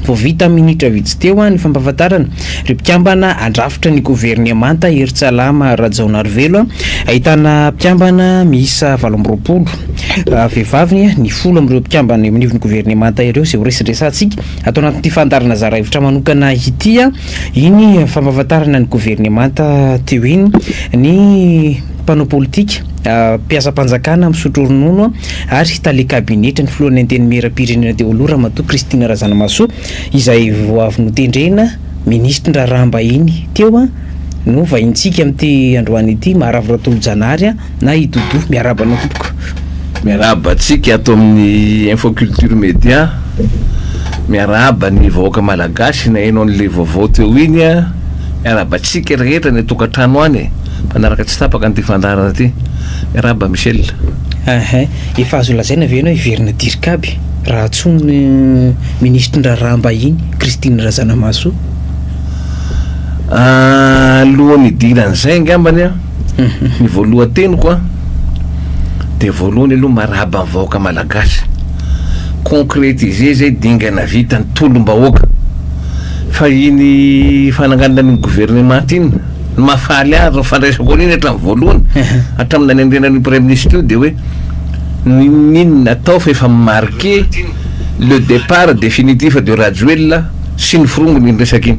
Vao vita minitra vitsy teo ah, ny fampahafantarana ireo mpikambana handrafitra ny governemanta Hery Tsalama Rajaonarivelo, ahitana mpikambana miisa valo amby roapolo. Vehivavy ny folo amin'ireo mpikambana eo anivon'ny governemanta ireo izay ho resadresantsika ato anatin'ity fandaharana zara hevitra manokana ity. Iny fampahafantarana ny governemanta teo iny ny mpanao politika, mpiasam-panjakana misotro ronono ary tale kabinetra ny filohan'ny Antenimierampirenena teo aloha Ramatoa Christine Razanamahasoa izay vao avy notendrena minisitry ny raharaham-bahiny teo no vahintsika amin'ity androany ity. Maharary Ratolojanahary. na i Doudou, miarahaba anao tompoko. Miarahaba antsika ato amin'ny Info Culture Media, miarahaba ny vahoaka malagasy naheno an'le vaovao teo iny a, miarahaba antsika rehetra any an-tokantrano any e, mpanaraka tsy tapaka an'ity fandaharana ity, miarahaba Michel. Aha, efa azo lazaina ve ianao hiverina Dircab raha antsoiny ny minisitrin-draharaham-bahiny Christine Razanamahasoa? Alohan'ny hidiran'izay angambany a. Ny voalohan-teniko a dia voalohany aloha marahaba ny vahoaka malagasy, concretiser zay dingana vita ny tolom-bahoaka fa iny fananganana an'iny gouvernement iny ny mahafaly ahy ary ny fandraisako an'iny hatramin'ny voalohany hatramin'ny nanendrena an'io praiminisitra io dia hoe n'inon'inona atao fa efa mi-marquer le départ définitif de Rajoelina sy ny forongony iny resaka iny.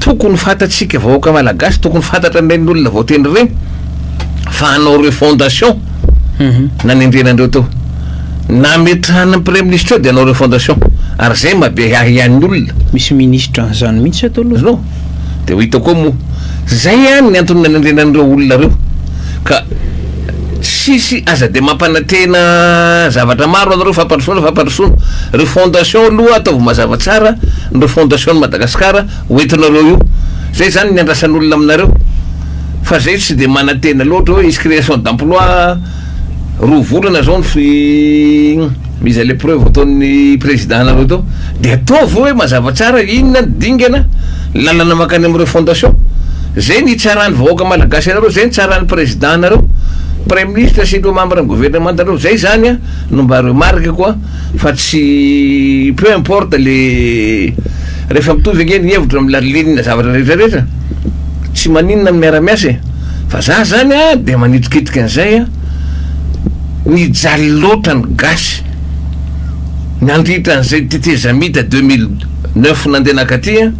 Tokony fantatsika vahoaka malagasy, tokony fantatra an'ireny olona voatendry ireny fa hanao refondation nanendrena andreo teo. Nametrahan'ny praiminisitra eo dia hanao refondation. Ary zay mabe ahy ihany ny olona. Misy minisitra an'izany mihitsy ato aloha. Azonao? Dia ho hita koa moa. Zay ihany ny antony nanendrena an'ireo olona ireo. Ka tsisy aza dia mampanantena zavatra maro anareo fampandrosoana fampandrosoana ry fondation aloha ataovy mazava tsara ny refondation ny Madagascar hoentinareo io zay zany ny andrasan'olona aminareo fa zay tsy dia manantena loatra hoe hisy création d'emploi roa volana zao ny fi Izay le preuve ataon'ny président nareo tao de ataovy oe mazava tsara inona ny dingana lalana makany amin'ireo fondation zay ny hitsaran'ny vahoaka malagasy anareo zay ny tsaran'ny président nareo praiminisitra sy ireo membre ny gouvernemanta nareo zay zany a no mba remarque ko a fa tsy peu importe le refa mitovy ange ny hevitra amin'ny lalilinina zavatra rehetra rehetra tsy maninona ny miara miasa e fa za zany a de manitrikitrika an'izay a. Nijaly loatra ny gasy nandritra an'izay tetezamita deux mille neuf nandeha nankaty an,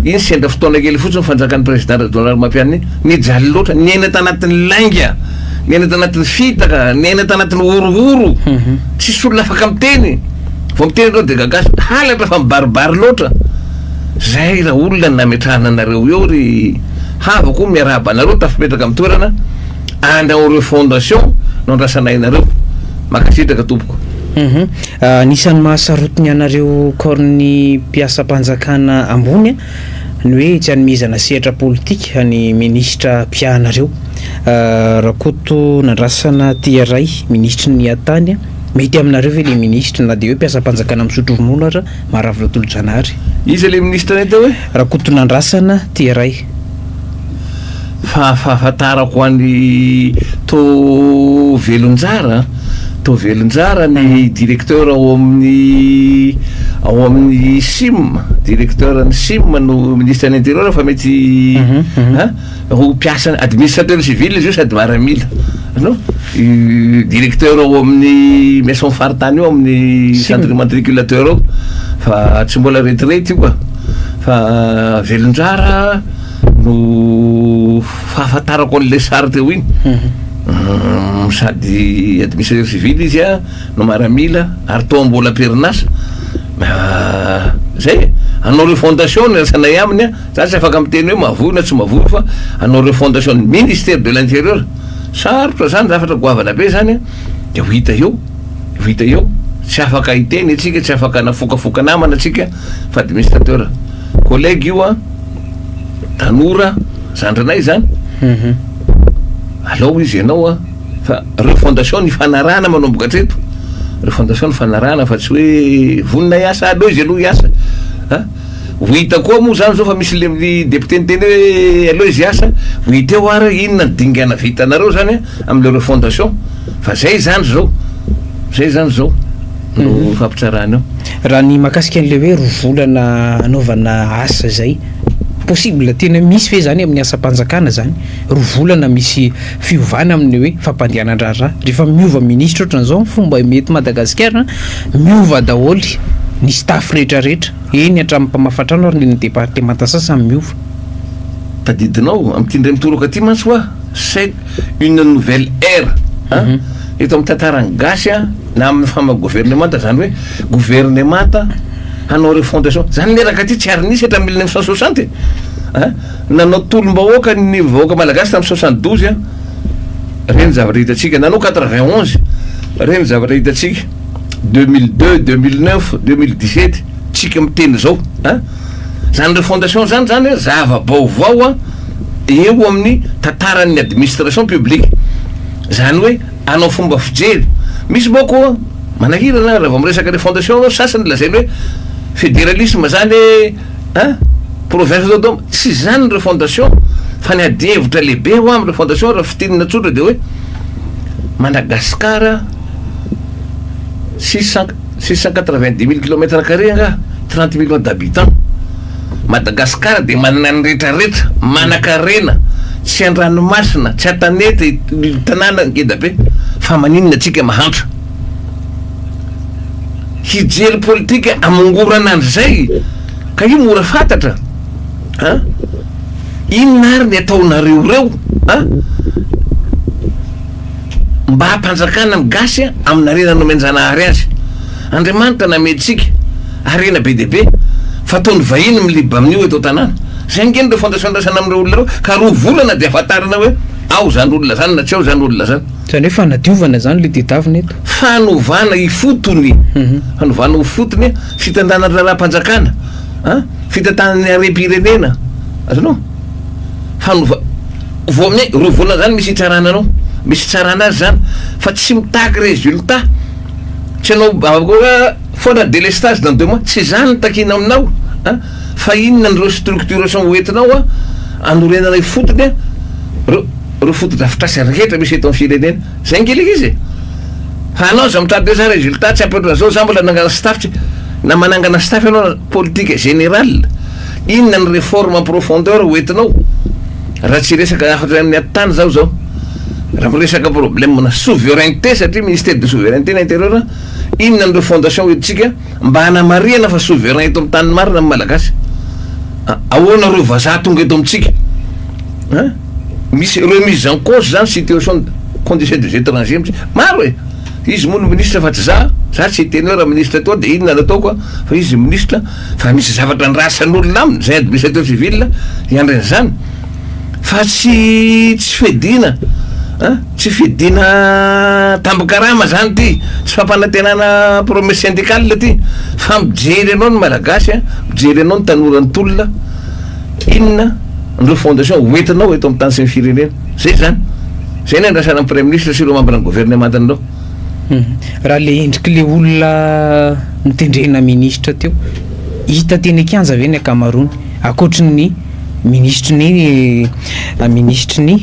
iny sendra fotoana kely fotsiny fanjakan'ny président Rajaonarimampianina iny, nijaly loatra, niaina tanatin'ny lainga, niaina tanatin'ny fitaka, niaina tanatin'ny horohoro, tsisy olona afaka miteny, vao miteny ianao dia gagasy, halatra fa mibaribary loatra, zay raha olona no nametrahana anareo eo ry havako, miarahaba anareo tafapetraka amin'ny toerana. and ao refondation no andrasanay anareo. Mankasitraka tompoko. Mhm. Ah, anisan'ny mahasarotiny anareo corny mpiasam-panjakana ambony ny hoe tsy anomezana sehatra politika ny minisitra mpiahanareo. Ah, Rakoto Nandrasana Tiaray, minisitry ny Atany, mety aminareo ve le minisitra na dia hoe mpiasam-panjakana misotro ronono ara, Maravilo Tolojanahary? Iza le minisitra anay teo e? Rakotonandrasana Tiaray. Fa fahafantarako an'i To Velonjara, To Velonjara ny directeur ao amin'ny ao amin'ny sim, directeur ny sim no ministre ny interieur fa mety a ho mpiasan'ny administrateur civil izy io sady maramila no directeur ao amin'ny maison faritany io amin'ny centre immatriculateur ao fa tsy mbola retirety io ka. fa velon-drara no fahafantarako an'ilay sary teo iny mhm. sady administrateur civil izy a no maramila ary toa mbola am-perinasa ah, zay anao refondation ny rasanay aminy a za tsy afaka miteny hoe mavoy na tsy mavoy fa anao refondation ny ministère de l'intérieur sarotra zany zafatra goavana be zany a de ho hita eo ho hita eo tsy afaka hiteny atsika tsy afaka nafokafoka namana atsika Fa administrateur. Collègue io an, tanora, zandrinay zany. Alao izy ianao an, fa refondation ny fanarahana manomboka hatreto. Refondation ny fanarahana fa tsy hoe vonona hiasa, aleo izy aloha hiasa. Ha? Ho hita koa moa zany zao fa misy le député niteny hoe aleo izy hiasa, ho hita eo ary inona ny dingana vitanareo zany an. Amin'ny le refondation fa zay izany izao, zay izany izao no fampitsarana eo. Raha ny mahakasika an'ilay hoe roa volana anaovana asa izay, possible, tena misy ve izany amin'ny asam-panjakana izany, roa volana misy fiovana amin'ny hoe fampandehanan-draharaha? Rehefa miova minisitra ohatran'izao ny fomba mety eto Madagasikara, miova daholo ny staff rehetrarehetra, eny hatramin'ny mpamafa trano ary ny eny amin'ny departemanta sasany miova. Tadidinao, amin'ity indray mitoraka ity mantsy hoa, C'est une nouvelle ère an! Eto amin'ny tantaran'ny gasy an, na amin'ny fama governemanta zany hoe governemanta hanao refondation zany miaraka ty tsy ary nisy hatramin'ny mille neuf cent soixante e! an! Nanao tolom-bahoaka ny vahoaka malagasy tamin'ny soixante douze an! Re ny zavatra hitantsika, nanao quatre vingt onze re ny zavatra hitantsika, deux mille deux, deux mille neuf, deux mille dix sept tsika miteny zao an! Zany refondation zany zany an zava-baovao an! eo amin'ny tantaran'ny administration publique, izany hoe hanao fomba fijery. Misy manko manahirana raha vao miresaka ilay fondation ianao, sasany lazainy hoe federalisme izany e, a province autonome, tsy izany ilay fondation fa ny adihevitra lehibe ho amin'ilay fondation raha fintinina tsotra dia hoe Madagascar sy Sank. Six cent quatre vingt dix mille kilomètre carré angaha? Trente millions d'habitants? Madagascar dia manana ny rehetra rehetra, manakarena, tsy andranomasina, tsy antanety ny tanàna ngeda be, fa maninona antsika mahantra? Hijery politika hamongorana an'izay ka io mora fantatra an! Inona ary ny ataonareo reo an! mba hampanjakana ny gasy amin'ny harena nomenjanahary azy Andriamanitra nametrika harena be dia be fa ataon'ny vahiny miliba amin'io eto an-tanàna zay ange ny refondation andrasana amin'ireo olona ireo ka roa volana dia hafantarana hoe ao zany olona zany na tsy ao zany olona zany Zany hoe fanadiovana zany le tedavina eto? fanovana ifotony mhm. fanovana ho fotony fitantanana raharaham-panjakana a fitantanan'ny harem-pirenena azonao fanova Vao amin'ny roa volana zany misy hitsarana anao, misy hitsarana azy zany fa tsy mitaky résultat, tsy anao akory foana délestage dans deux mois, tsy zany no takiana aminao an, fa inona ireo structuration ho entinao an anorenana ifotony an reo reo fotodrafitrasa rehetra misy eto amin'ny firenena, zay nge le izy e! fa anao aza mitady hoe za résultat tsy ampy ohatran'izao, za mbola nangana staff tsy, na manangana staff ianao politique générale, inona ny réforme en profondeur ho entinao? Raha tsy hiresaka hafatra ny aty tany zaho zao, raha miresaka problème na souveraineté satria ministère de souveraineté ny interieur, inona an'ireo fondation ho entintsika mba hanamarihana fa souverain eto amin'ny tany marina ny Malagasy? Ahoana ireo vazaha tonga eto amintsika? Hein? Misy remise en cause zany situation condition des étrangers mihitsy. Maro e! Izy moa no ministre fa tsy za, za tsy teneur ministre toa dia inona no ataoko an, fa izy ministre, Fa misy zavatra andrasan'olona aminy, izay administrateur civil hiandry an'izany, fa tsy tsy fiadiana an, tsy fiadiana tambin-karama izany ity, tsy fampanantenana promesse syndicale ity, fa mijery anao ny Malagasy an, mijery anao ny tanora nitolona, inona ny refondation ho entinao eto amin'ny tany sy ny firenena, izay izany, izay no iandrasana ny Praiminisitra sy ireo mambran'ny governemantin'ireo. Raha le endriky le olona notendrena ministra teo, hita teny an-kianja ve ny ankamaroany? Ankoatry ny minisitry ny minisitry ny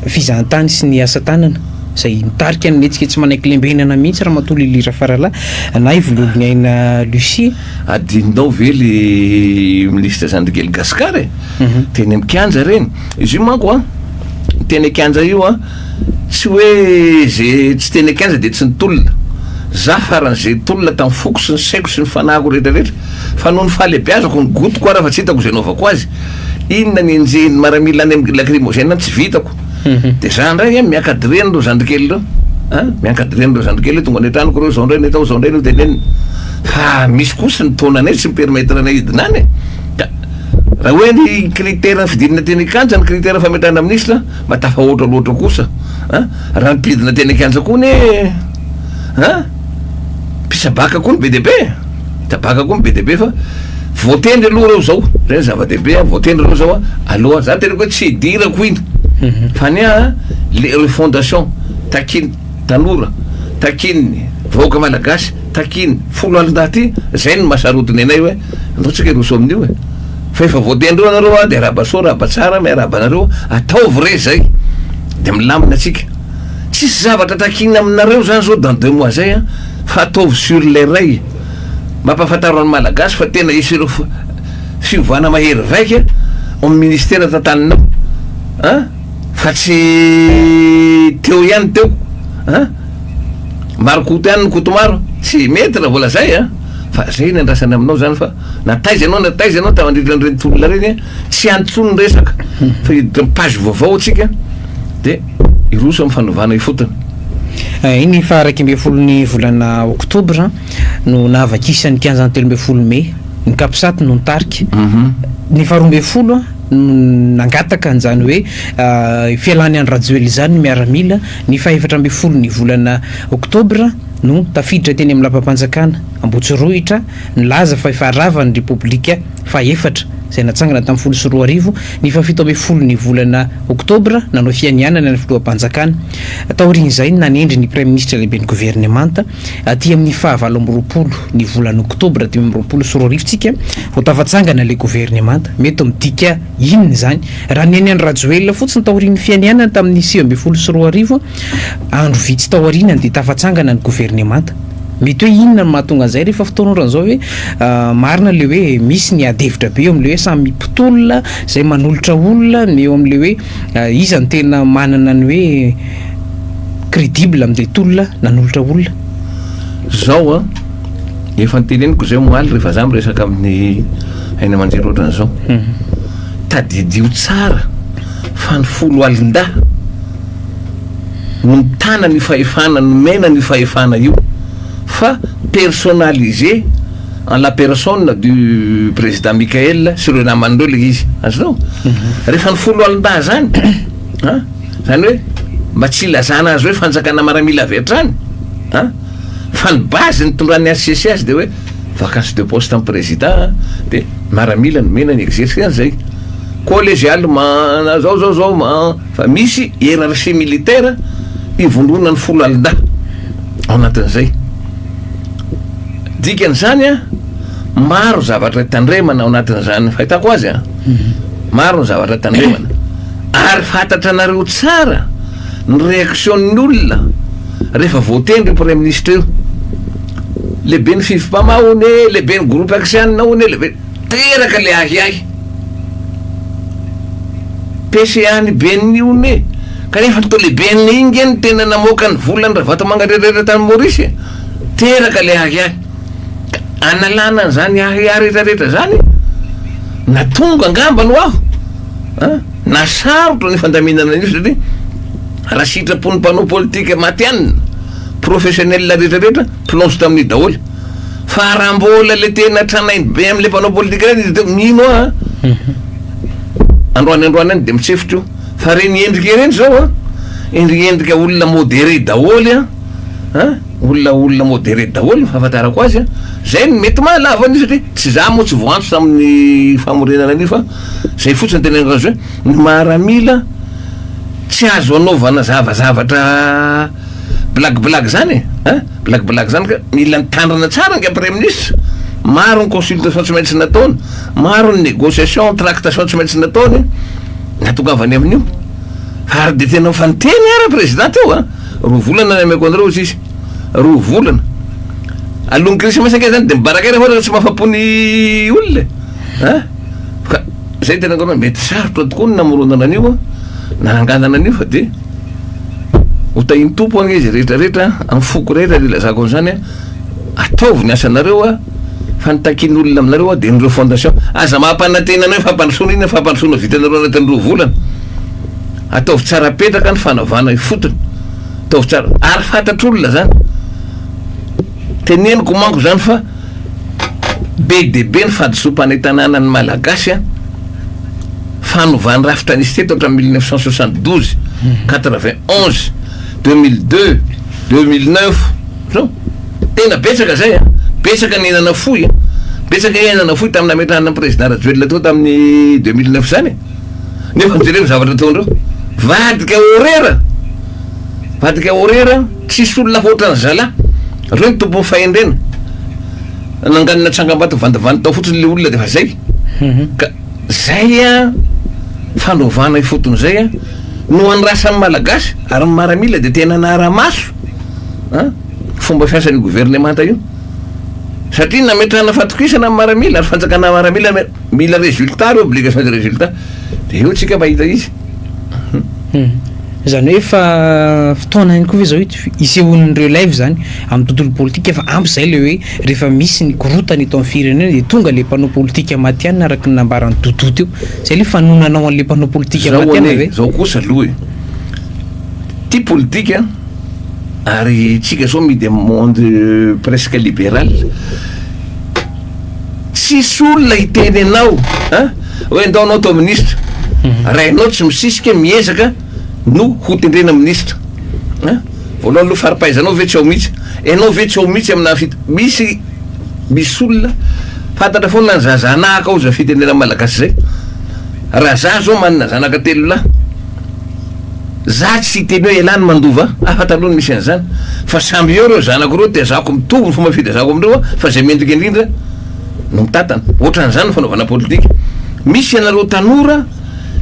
fizahantany sy ny asa tanana izay mitarika ny hetsika tsy manaiky lembenana mihitsy Ramatoa Lily Rafaralahy na i Vololoniaina Lucie. Adinonao ve le minisitra Zandrigely Gascar e? Teny am-kianja ireny. Izy io manko an, teny an-kianja io an. Tsy hoe ze tsy teny an-kianja dia tsy nitolona. Zah farany ze tolona tamin'ny foko sy ny saiko sy ny fanahiko rehetra rehetra. Fa noho ny fahalebiazako, ny gotiko ara fa tsy hitako ze anaovako azy. Inona ny enjehin'ny maramila any amin'ny lacrymogène any tsy vitako. Dia zah indray anie miankadre an'ireo zandrikely ireo an! Miankadre an'ireo zandrikely ireo tonga any an-tranoko ireo, zao indray ny atao, zao indray no tenenina. Fa misy kosa ny taonanay tsy mi-permettre anay hidina any e! Ka raha hoe ny critère fidinana teny an-kianja ny critère fametrahana minisitra Mba tafahoatra loatra kosa an! Raha ampidina teny an-kianja koa anie an! Mpisabaka koa ny be dia be e! Mpisabaka koa ny be dia be fa voatendry aloha ireo izao, izay no zava-dehibe an! Voatendry ireo izao an! Aloha, za teneniko hoe tsy hidirako iny fa anie an! Le refondation takian'ny tanora, takian'ny vahoaka malagasy, takian'ny foloalindahy ity, izay no maha sarotiny anay hoe andao tsika hiroso amin'io e! Fa efa voatendry eo anareo a, de arahaba soa, arahaba tsara, miarahaba anareo, ataovy re zay, de milamina tsika. Tsisy zavatra takiana aminareo zany zao dans deux mois zay a, fa ataovy sur les rails. Mampafantaro ny Malagasy fa tena hisy ireo f- fiovana mahery vaika ao amin'ny ministera tantaninao a, fa tsy teo ihany teo a, maro koto ihany ny koto maro, tsy mety raha voalazay a, fa zay ny andrasana aminao zany fa. Na taiza ianao na taiza ianao tafandritra an'ireny tolona ireny a, tsy hany intsony ny resaka fa hiditra amin'ny page vaovao isika dia hiroso amin'ny fanovana ifotony. Iny faha iraika ambin'ny folo ny volana oktobra no nahavakisan'ny kianjan'ny telo ambin'ny folo mey, ny Capsat no nitarika, ny faha roa ambin'ny folo no nangataka an'izany hoe fialàn'i Andry Rajoelina izany ny miaramila, ny faha efatra ambin'ny folo ny volana oktobra no tafiditra teny amin'ny lapanpanjakana Ambohitsirohitra, Nilaza fa efa rava ny Repoblika fahefatra, izay natsangana tamin'ny folo sy roa arivo, ny fahafito ambin'ny folon'ny volana Oktobra, nanao fianianana ny filoham-panjakana. Taorian'izay no nanendry ny Praiminisitra Lehiben'ny Governemanta, aty amin'ny faha valo amby roapolo ny volana Oktobra dimy amby roapolo sy roa arivo tsika vao tafatsangana ilay governemanta. Mety midika inona izany? Raha ny an'i Andry Rajoelina fotsiny taorian'ny fianianana tamin'ny sivy ambin'ny folo sy roa arivo, andro vitsy taorianany dia tafatsangana ny governemanta. Mety hoe inona no mahatonga an'izay rehefa fotoan'ora izao hoe marina ilay hoe misy ny ady hevitra be eo amin'ilay hoe samy mpitolona izay manolotra olona ny eo amin'ilay hoe iza no tena manana ny hoe crédible amin'ilay tolona nanolotra olona? Izao an, efa noteneniko izay omaly rehefa za miresaka amin'ny haino aman-jery ohatran'izao. Tadidio tsara fa ny folo alin-dahy, mitana an'io fahefana, nomena an'io fahefana io fa personnalisé en la personne du président Mickaël sy ireo namany ireo ilay izy, azonao? Mhm. Rehefa ny foloalindahy izany, an, izany hoe mba tsy ilazana azy hoe fanjakana maramila avy hatrany, an, fa ny base nitondran'ny HCC azy dia hoe vacance de poste an'ny président dia maramila nomena ny exercer an'izay collégialement zao zao zao Fa misy hiérarchie militaire ivondronan'ny folo alindahy ao anatin'izay. Dikan'izany an, maro zavatra tandremana ao anatin'izany fahitako azy an, maro ny zavatra tandremana. Ary fantatra anareo tsara ny réaction-n'ny olona rehefa voatendry io Praiminisitra io. Lehiben'ny Fivm-pama hono e, lehiben'ny groupe Axian hono e, lehibe. Teraka le ahiahy. PCA ny ben'ny one e! Kanefa to le ben'ny inge no tena namoaka ny volan'i Ravatomanga rehetrarehetra tany Maurice e! Teraka le ahiahy. Ka analana an'izany ahiahy rehetrarehetra izany e! Na tonga angamba ny ho aho a! Na sarotra ny fandaminana an'io satria raha sitrapon'ny mpanao politika matihanina, professionnel rehetrarehetra plonge tamin'io daholo. Fa raha mbola le tena tranainy be amle mpanao politika reny izy de mino aho a! Androany androany any de mitsefotra io fa reny endrika ireny zao a! Endrika endrika olona modere daholo a! A! Olona olona modere daholo ny fahafantarako azy a! Zay no mety mahalavo an'io satria tsy za moa tsy voantso tamin'ny famorenana an'io fa zay fotsiny tena azo hoe ny maramila tsy azo anaovana zava zavatra Blague blague zany e an! Blague blague zany ka mila mitandrina tsara anga Praiminisitra! Maro ny consultation tsy maintsy nataony, maro ny negociation, tractation tsy maintsy nataony nahatongavany amin'io. Fa ary dia tena efa niteny ara Prezidà teo an! Roa volana ny hameko anareo hozy izy. Roa volana. Alohan'ny Krismasy ange zany dia mibaraka ela fa ohatra ka tsy mahafa-po ny olona e! An! Ka zay tena angamba mety sarotra tokoa ny namoronana an'io an, nananganana an'io fa de ho tahin'ny Tompo anie izay rehetra rehetra an, amin'ny foko rehetra dia ilazako an'izany an, ataovy ny asanareo an, fa ny takin'olona aminareo an dia ny ireo fondation, aza mampanantena an'io fampandrosoana iny an, fampandrosoana vitanareo anatin'ny roa volana, ataovy tsara apetraka ny fanavahana ifotony, ataovy tsara, ary fantatr'olona zany. Teneniko manko zany fa be dia be ny fadisoam-panentanana ny Malagasy an! Fanovany rafitra nisy teto hatramin'ny mille neuf cent soixante douze, quatre vingt onze, deux mille deux, deux mille neuf, zao. Tena betsaka zay an! Betsaka ny aina nafoy an! Betsaka ny aina nafoy tamin'ny nametrahana ny Président Rajoelina teo tamin'ny deux mille neuf zany e! nefa ny jereo ny zavatra ataondreo vadika orera vadika orera tsisy olona hoatran'ny zalah reo ny tompon'ny fahendrena nanganina tsangambato vandivandy tao fotsiny le olona de fa zay mhm. ka zay a fandrovana ifotony zay a no andrasan'ny malagasy ary ny maramila de tena naramaso a fomba fiasan'ny governemanta io satria nametrahana fatokisana ny maramila ary fanjakana maramila Mila résultat ary obligation de résultat. Dia eo tsika mahita izy. Izany hoe efa fotoana ihany koa ve izao hisehoan'ny relève izany amin'ny tontolo politika fa ampy izay ilay hoe rehefa misy ny korontana eto amin'ny firenena dia tonga ilay mpanao politika matihanina araka ny nambaran'i Doudou teo. Izay ilay fanononana ho an'ilay mpanao politika matihanina ve? Izao anie, izao kosa aloha e. Tia politika ary isika izao mihidy amin'ny monde presque libéral. tsisy olona hiteny anao a! hoe ndao anao atao ministra raha ianao tsy misisika miezaka no ho tendrena ministra a! voalohany aloha faripahaizanao ve tsy ao mihitsy ianao ve tsy ao mihitsy amina fit misy misy olona fantatra foana ny zaza anahaka ao zay fitenenana malagasy zay raha za zao manana zanaka telo lahy Za tsy hiteny hoe elah ny mandova afa taloha ny misy an'izany fa samby eo reo zanako reo tezako mitovy ny fomba fitezako amindreo a fa zay mendrika indrindra no mitantana otran'izany ny fanaovana politika misy ianareo tanora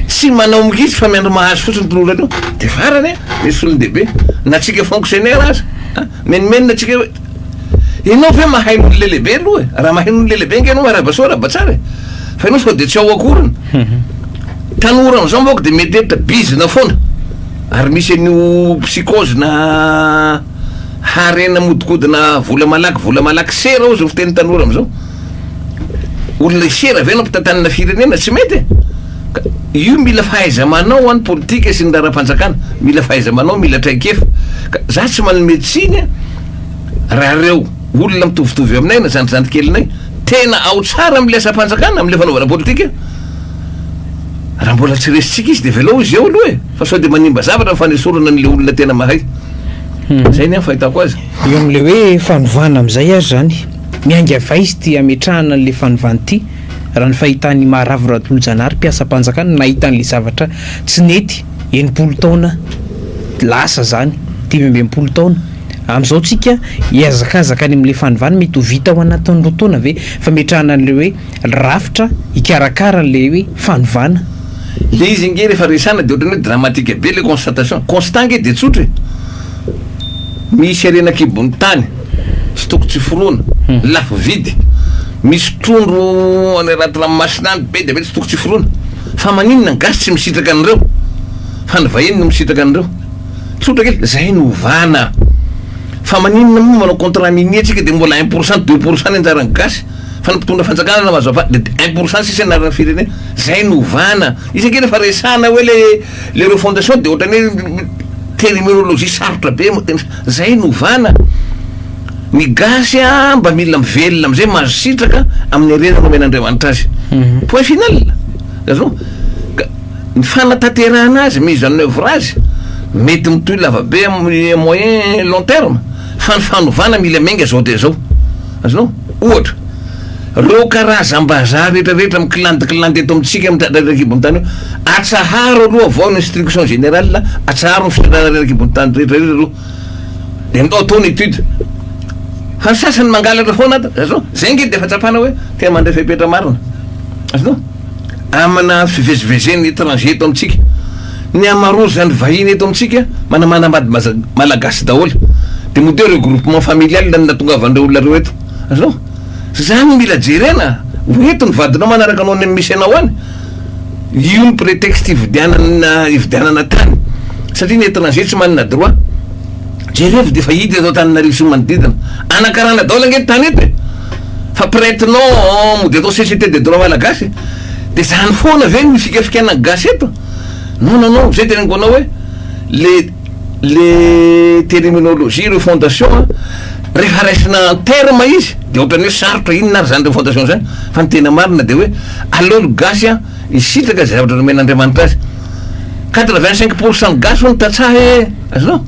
tsy manao mihitsy fa miandry mahazo fotsiny ny tolorany eo de farany a misy solondehibe na tsika fonctionnaire aza a menomenona tsika hoe Enao ve mahay ny ololelebe aloha e? Raha mahay ny ololelebe nge enao marava soa Rabatsara e. Fa enao sao dia tsy ao akoriny. Tanora amizao moko dia mety hevitra bizina foana. Ary misy an'io psychose na harena modikodina vola malaky vola malaky sera ozy ny fiteny tanora amizao. Olona hisera ve enao mpitantanina firenena? Tsy mety e. Ka io mila fahaiza-manao any politika sy ny laharam-panjakana. Mila fahaiza-manao, mila traikefa. Ka za tsy manome tsiny a. raha ireo olona mitovitovy aminay na zandrizandry kelinay tena ao tsara amin'ilay asam-panjakana, amin'ilay fanaovana politika, raha mbola tsy resintsika izy dia velao izy eo aloha e, fa sao dia manimba zavatra ny fanesorana an'ilay olona tena mahay. Hmm. Zay ny an fahitako azy. Eo amin'ilay hoe fanovana amin'izay ary izany, miainga vay izy ity ametrahana an'ilay fanovana ity, raha ny fahitan'i Maharavo Ratolojanahary mpiasam-panjakana nahita an'ilay zavatra tsy nety. enimpolo taona lasa zany, dimy amby enimpolo taona, amzao tsika hiazakazaka any amle fanovana, mety ho vita ao anatin'ny roa taona ve fametrahana anle hoe rafitra hikarakara anle hoe fanovana? Le izy ange rehefa resana de ohatrany hoe dramatique be le constatation, constat ange de tsotra e, misy harena akibon'ny tany tsy toko tsy forona, lafo vidy, misy trondro any raty ranomasina any be dia be tsy toko tsy forona, Fa maninona ny gasy tsy misitraka an'ireo fa ny vahiny no misitraka an'ireo? Tsotra kely, zay no ovana. Fa maninona moa manao contrat minier tsika de mbola un pour cent deux pour cent ny anjaran'ny gasy fa ny mpitondra fanjakana na mazava de un pour cent sisa ny anaran'ny firenena. Zay no ovana. Izy anie refa resahana hoe le le refondation de ohatran'ny hoe terminologie sarotra be. Zay no ovana. Ny gasy a mba mila mivelona amizay mahazo sitraka aminy harena nomen'Andriamanitra azy. Point final. Azonao? Ka ny fanatanterahana azy, mise en oeuvre azy, mety mitohy lavabe aminy à moyen long terme. Fa ny fanovana mila miainga zao dia zao. Azonao? Ohatra. Reo karazam-bazaha retraretra mikilandikilandy eto amintsika mitratra erakibon'ny tany eo, atsaharo aloha vao ny instruction générale, atsaharo ny fitondrana rerakibon'ny tany rehetra rehetra aloha, de ndao atao ny étude. Fa ny sasany mangalatra foana ato, zao, zay nge defa tsapana hoe te mandray fepetra marina. Azonao? Amina fivezivezen'ny étranger eto amintsika. Ny amarozan'ny vahiny eto amintsika manamana bady Malagasy daholo. De moa teo reo groupement familial no natongavan'ireo olona reo eto. Azonao? Zany no mila jerena, ho eto ny vadinao manaraka anao any amin'ny mise nao any, io ny pretexte hividianana hividianana tany, satria ny eton'AG tsy manana droit, jerevo dia efa hita eto Antananarivo sy ny manodidina, anakarana daholo ange ny tany eto e, fa prête non mody atao CCT des droits malagasy, dia zany foana ve no hifikafikaina ny gasy eto, non non non, zay teneniko anao hoe le. le terminologie ireo fondation a rehefa raisina en terme izy de ohatrany hoe sarotra inona ary zany reo fondation zany fa ny tena marina de hoe aleo ny gasy a hisitraka ze zavatra nomen'Andriamanitra azy quatre vingt cinq pour cent gasy hono tantsaha e azonao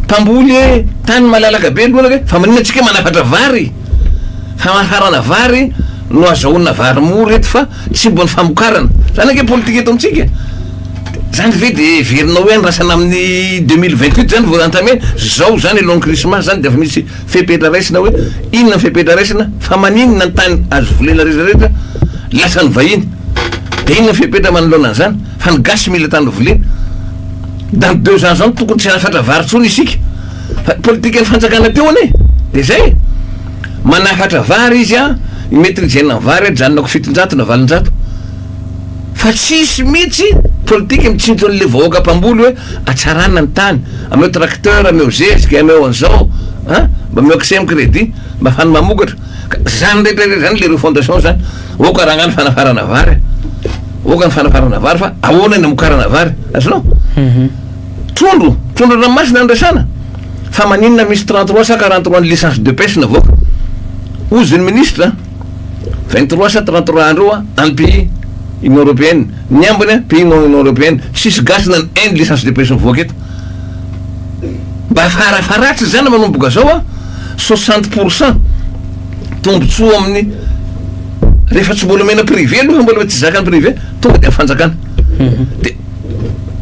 mpamboly e tany malalaka be lonaka e fa maninona antsika manafatra vary famanfarana vary no azahoana vary mora eto fa Cible ny famokarana. Zany ange politika eto amintsika. Zany ve dia heverinao hoe andrasana amin'ny deux mille vingt huit zany vao entamer? Zao zany alohan'ny krismasy zany dia efa misy fepetra raisina hoe inona ny fepetra raisina fa maninona ny tany azo volena rehetra rehetra lasan'ny vahiny? Dia inona ny fepetra manoloana an'izany fa ny gasy mila tany volena? Dans deux ans zao tokony tsy hanafatra vary intsony isika fa politikan'ny fanjakana teo anie e. Dia zay e. Manafatra vary izy an, mety nijanona ny vary ajanonako fitonjato na valonjato fa tsisy mitsy politika mitsinto anle vahoaka mpamboly hoe atsarana ny tany, ameo tracteur, ameo zezika, ameo anzao an, mba ameo accès am credit mba afany mamokatra, ka zany rehetra rehetra zany le refondation zany, ok aranga ny fanafarana vary, ok ny fanafarana vary fa ahoana ny amokarana vary, azonao? Trondro, trondro an-dranomasina no resahana fa maninona misy trente trois sa quarante trois ny licence de pêche navoaka? Hozy ny ministra, vingt trois sa trente trois andro eo any pays union européenne, ny ambiny pays non union européenne, tsisy gasy na ny un licence de pêche mivoaka eto. Mba farafaharatra izany manomboka zao a, soixante pour cent tombotsoa amin'ny rehefa tsy mbola omena privé aloha fa mbola tsy zakan'ny privé tonga dia amin'ny fanjakana. Dia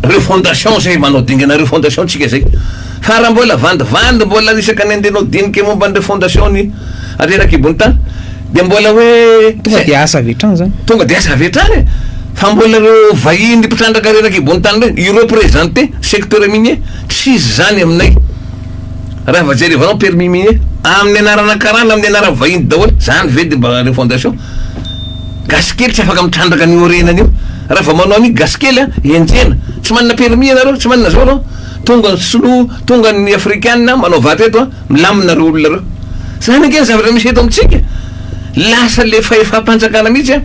Reo fondation zay manao dingana reo fondation tsika zay fa raha mbola vandivandy mbola isaka ny andenao dinika momba an'ireo fondation ny rerakibo'ny tany dia mbola hoe tonga dia asa avy hatrany zany tonga dia asa avy hatrany e fa mbola reo vahiny mpitrandraka rerakibo'ny tany reny ireo presente secteur minier tsisy zany aminay raha va jerevanao permis minier amin'ny anarana karana amin'ny anarany vahiny daholo zany ve dia mba reo fondation Gasy kely tsy afaka mitrandraka an'io orenana io. Raha vao manao an'io gasy kely a, enjehina. Tsy manana permis ianareo, tsy manana zao anao. Tonga ny sinoa, tonga ny afrikana manao vato eto a, milamina reo olona reo. Zany ange ny zavatra misy eto amintsika. Lasa le fahefam-panjakana mihitsy a,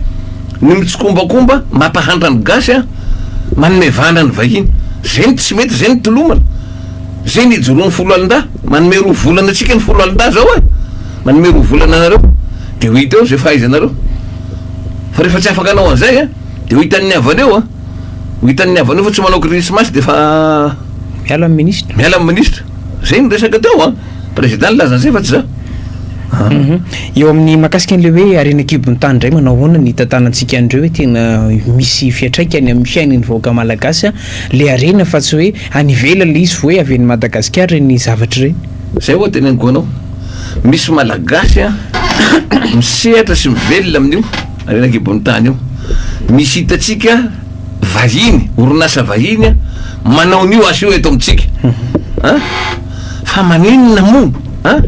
ny mitsikombakomba mampahantra ny gasy a, manome vàna ny vahiny. Zay ny tsy mety, zay ny tolomana. Zay ny ijoroan'ny foloalindahy. Manome roa volana antsika ny foloalindahy zao e. Manome roa volana anareo dia ho hita eo izay fahaizanareo. Fa rehefa tsy afaka hanao an'izay a, dia ho hitan'ny havaneo a, ho hitan'ny havaneo fa tsy manao krismasy dia efa. Miala ny minisitra. Miala ny minisitra. Izay no resaka teo a. Prezida nilaza an'izay fa tsy za. Hum. Eo amin'ny mahakasika an'ilay hoe harena an-kibon'ny tany indray manao ahoana ny hitantanantsika an'ireo hoe tena misy fiantraikany amin'ny fiainan'ny vahoaka malagasy ilay harena fa tsy hoe any ivelany ilay izy fa hoe avy any Madagasikara ireny zavatra ireny. Zay oa teneniko anao, misy malagasy an misehatra sy mivelona amin'io renakibon'ny tany io, misy hitantsika vahiny, orinasa vahiny an manao an'io asa io eto amintsika an, fa maninona moa an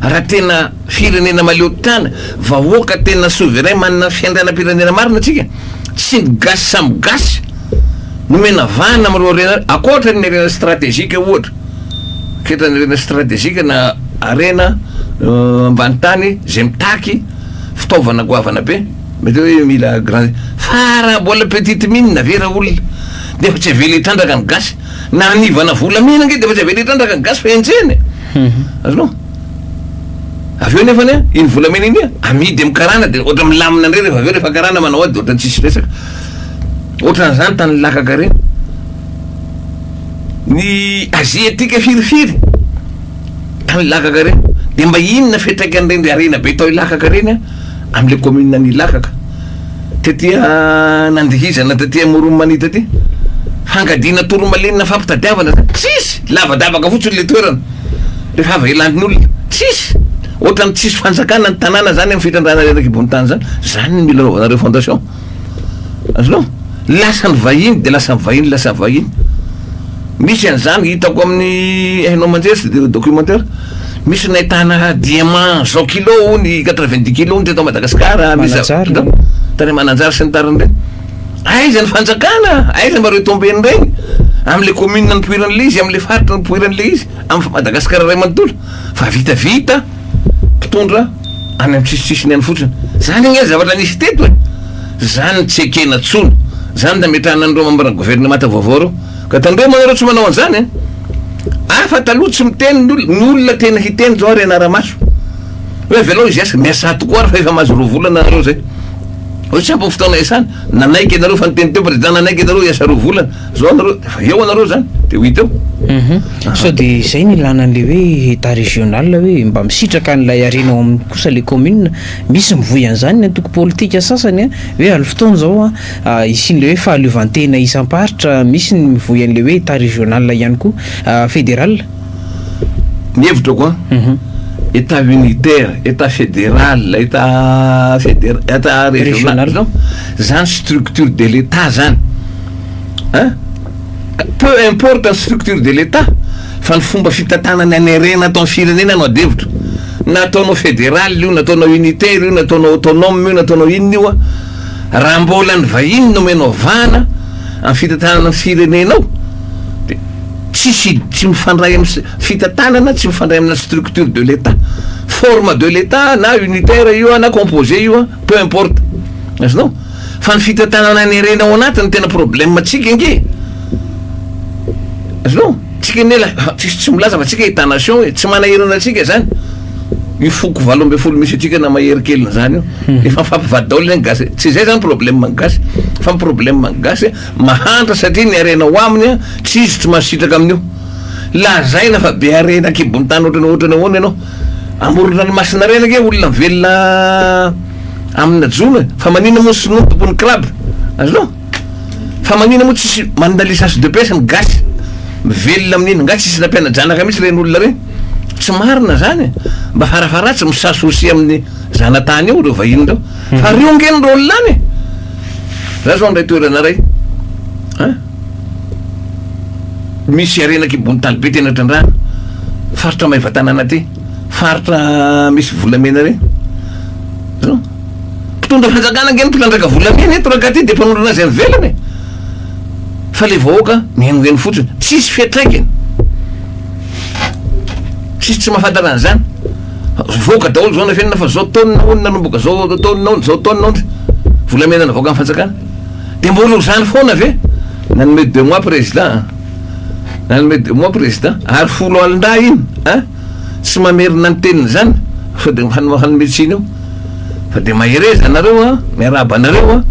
raha tena firenena mahaleo tana, vahoaka tena souverain manana fiandrianam-pirenena marina tsika, tsy ny gasy samy gasy no omena vahana amin'ireo harena, akoatra ny harena strategique ohatra. Toetra ny harena stratejika na harena ambany tany izay mitaky fitaovana goavana be, mety hoe mila grand fa raha mbola petite mine na ve raolona dia efa tsy avela hitrandraka ny gasy na hanivana volamena ange dia efa tsy avela hitrandraka ny gasy fa enjehina e mhm. azonao avy eo nefany a iny volamena iny a amidy amin'ny karana dia ohatra milamina indray rehefa avy eo rehefa karana manao ady ohatra tsisy resaka ohatran'izany tany lakaka reny ny aziatika firifiry tany Ilakaka ireny dia mba inona fiantraikan'ireny harena be tao Ilakaka ireny an amin'ilay commune an'i Ilakaka taty nandihizana taty Moromania taty fangadiana toromalenina fampitadiavana izany tsisy lavadavaka fotsiny ilay toerana rehefa avy elan'olona tsisy ohatrany tsisy fanjakana ny tanàna izany amin'ny fitrandrahana reraka ambony tany izany izany ny mila anaovanareo fondation azonao? Lasa ny vahiny de lasa ny vahiny lasa ny vahiny. Misy an'izany hitako amin'ny hainao aman-jery sy de documentaire. Misy nahitana diamant zao kilo hono, quatre-vingt-dix kilo hono teto Madagasikara, misy Mananjary, no? tany Mananjary sy ny tariny reny. Aiza ny fanjakana? Aiza mba retomben'ny reny? Amin'ilay commune nipoiran'ilay izy, amin'ilay faritra nipoiran'ilay izy, amin'ny Madagasikara iray manontolo. Fa vitavita. mpitondra any am sisisisiny any fotsiny. Zany ange zavatra nisy teto e! Zany tsy ekena tsony. Zany nametrahana an'ireo mambra governemanta vaovao ireo. Ka tandremo anareo tsy manao an'zany e! Hafa taloha tsy miteny ny olona, ny olona tena hiteny zao ary ianaramaso. Hoe avelao hizeska, miasà tokoa ary fa efa mahazo roa volana nareo zay. Hoe tsy ampy ny fotoana iasana. Nanaiky ianareo fa niteny teo prezida nanaiky ianareo hiasa roa volana. Zao nareo efa eo anareo zany de ho hita eo. Mhm. Sao de zay no ilana an'le hoe état régional hoe mba misitraka an'ilay harena ao aminy kosa le commune. Misy mivoy an'izany ny antoko politika sasany an, hoe aly fotoana zao an, hisian'le hoe fahaleovantena isam-paritra, misy ny mivoy an'le hoe état régional ihany koa, fédéral. Ny hevitrako an, Mhm. état unitaire, état fédéral, état fédér- état régional, Régional. zany structure de l'état zany. Hein? Peu importe ny structure de l'Etat fa ny fomba fitantanana ny an'erena ato amin'ny firenena no adihevitra. Na ataonao federal io, na ataonao unitaire io, na ataonao autonome io, na ataonao inona io an, raha mbola ny vahiny no omenao vahana amin'ny fitantanana ny firenenao dia tsisy, tsy mifandray amin'ny fitantanana, tsy mifandray amina structure de l'Etat. Forme de l'Etat na unitaire io an, na composé io an, peu importe. Azonao? Fa ny fitantanana ny harena ao anaty no tena problème antsika ange azonao? Antsika anie la tsisy tsy milaza fa antsika état nation e, tsy manahirana antsika zany io foko valo ambin'ny folo misy antsika na mahery kely na zany io hmm. efa mifampivady daholo zany gasy tsy izay zany problème ny gasy fa ny problème ny gasy mahantra satria ny harena ho aminy a tsy izy tsy mahasitraka amin'io lazaina fa be harena akibon'ny tany ohatrany ohatrany ahoana ianao amorona ny masina reny ange olona velona amina jona fa manina moa sinoa tompony crab azonao fa manina moa tsisy manina licence de pêche ny gasy mivelona amin'iny nga tsisy nampiana-janaka mihitsy reny olona reny tsy marina zany mba farafaratsy misasosi amin'ny zanatany eo reo vahiny reo hmm. fa riongeny reo olona any za zao ndray toerana ray a misy arenak'ibony talibe tena trandrana faritra maivatanana ty Faritra misy volamena re. Hitanao? Mpitondra fanjakana ange no mpitrandraka volamena eto raha de mpanolona azy any ivelany e. Fa le vahoaka mihainohaino fotsiny. Tsisy fiatraikany. Tsisy tsy mahafantatra an'izany. Voaka daholo zao nafenina fa zao taonina hono nanomboka zao taonina hono zao taonina hono. Volamena navoakan'ny fanjakana. De mbola ho zany foana ve? Nanome deux mois président a. Nanome deux mois président ary folo alin-dahy iny a! Tsy mamerina ny teniny zany fa de hanome tsiny eo fa de mahereza nareo a! Miarahaba anareo a!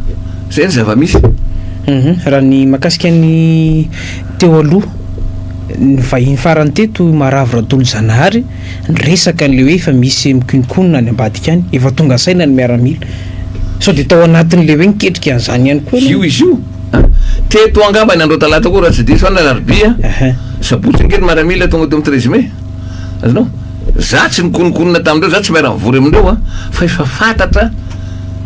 Zay ny zava-misy. Raha ny makasika ny teo aloha ny vahiny farany teto i Maravo Ratolozanahary niresaka an'ilay hoe efa misy mikononkonona any ambadika any, efa tonga saina ny miaramila. Sao dia tao anatin'ilay hoe niketrika an'izany ihany koa ianao? Teto angambany andro talata koa raha tsy diso aho na alarobia sabotsy ange ny maramila tonga teo amin'ny treize mai azonao za tsy nikonokonona tamin'ireo za tsy miara mivory amin'ireo a fa efa fantatra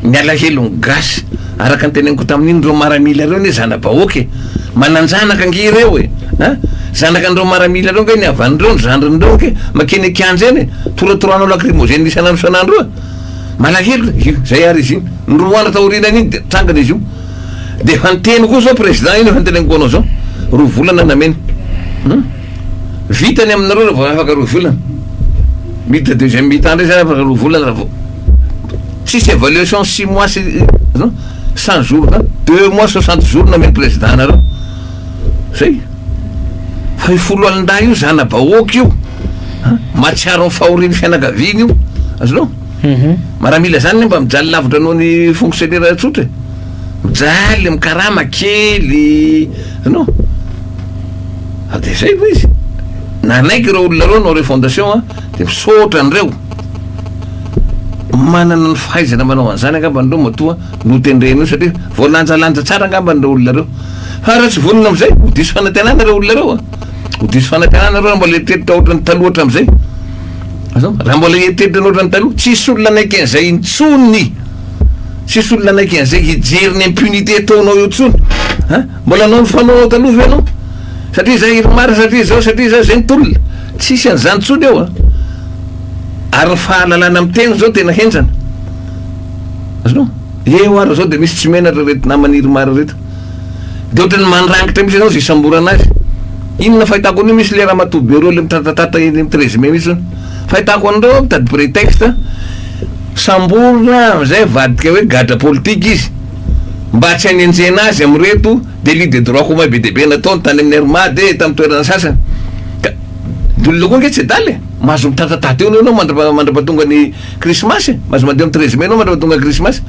ny alahelo ny gasy araka ny teneniko tamin'iny ireo maramila ireo ne zana-bahoaka e manan-janaka ange ireo e a zanaka an'ireo maramila ireo ange ny havan'ireo ny zandrin'ireo ange makeny an-kianja eny e toratoranao lakrimozena isan'andro isan'andro a malahelo e zay ary izy iny ny roa andro taorianan'iny dia trangana izy io De efa niteny koa zao président iny efa niteny koa anao zao roa volana nameno hum vita ny aminareo raha vao afaka roa volana mita deuxième mitan ndray zany afaka roa volana raha vao tsisy évaluation six mois sy non cent jours zany deux mois soixante jours nameno président nareo zay fa io folo alin-dahy io zana-bahoaka io mahatsiaro ny fahorian'ny fianakaviany io azonao Maramila izany ny mba mijaly lavitra noho ny fonctionnaire tsotra e. Mijaly amin'ny karama kely no ah, dia izay hoy izy. Nanaiky ireo olona ireo no refondation a, dia misaotra an'ireo manana ny fahaizana manao an'izany angamba ireo matoa notendren'io satria voalanjalanja tsara angamba ireo olona ireo. Fa raha tsy vonona amin'izay, ho diso fanantenana ireo olona ireo a. Ho diso fanantenana ireo raha mbola eritreritra ohatran'ny taloha hatramin'izay. Azava? Raha mbola eritreritra loatra ny taloha, tsisy olona naiky an'izay intsony. Tsisy olona naiky an'izay hijery ny impunité ataonao eo intsony. Ha? Mbola anao ny fanaonao taloha ve ianao? Satria izay Irmar, satria izao, satria izao, izay ny tolona. Tsisy an'izany intsony eo a. Ary ny fahalalana miteny izao tena henjana. Azonao? Eo ary izao dia misy tsy menatra ireto naman'i Irmar ireto. de otrany mandrangitra mihitsy enao ze isamborana azy inona fahitako an'io misy le ramatoa be roa le mitratatratra eny amin'ny treize mai mihitsy fahitako an'ireo mitady pretexte samborina amizay avadika hoe gadra politika izy mba tsy hanenjehina azy amireto delit de droit commun be dia be nataony tany amin'ny RMAD e tamin'ny toerana sasany ka, olona koa ange tsy adala e mahazo mitratatrata eo enao mandra-pahatonga ny Krismasy e! Mahazo mandeha amin'ny treize mai anao mandra tonga krismasy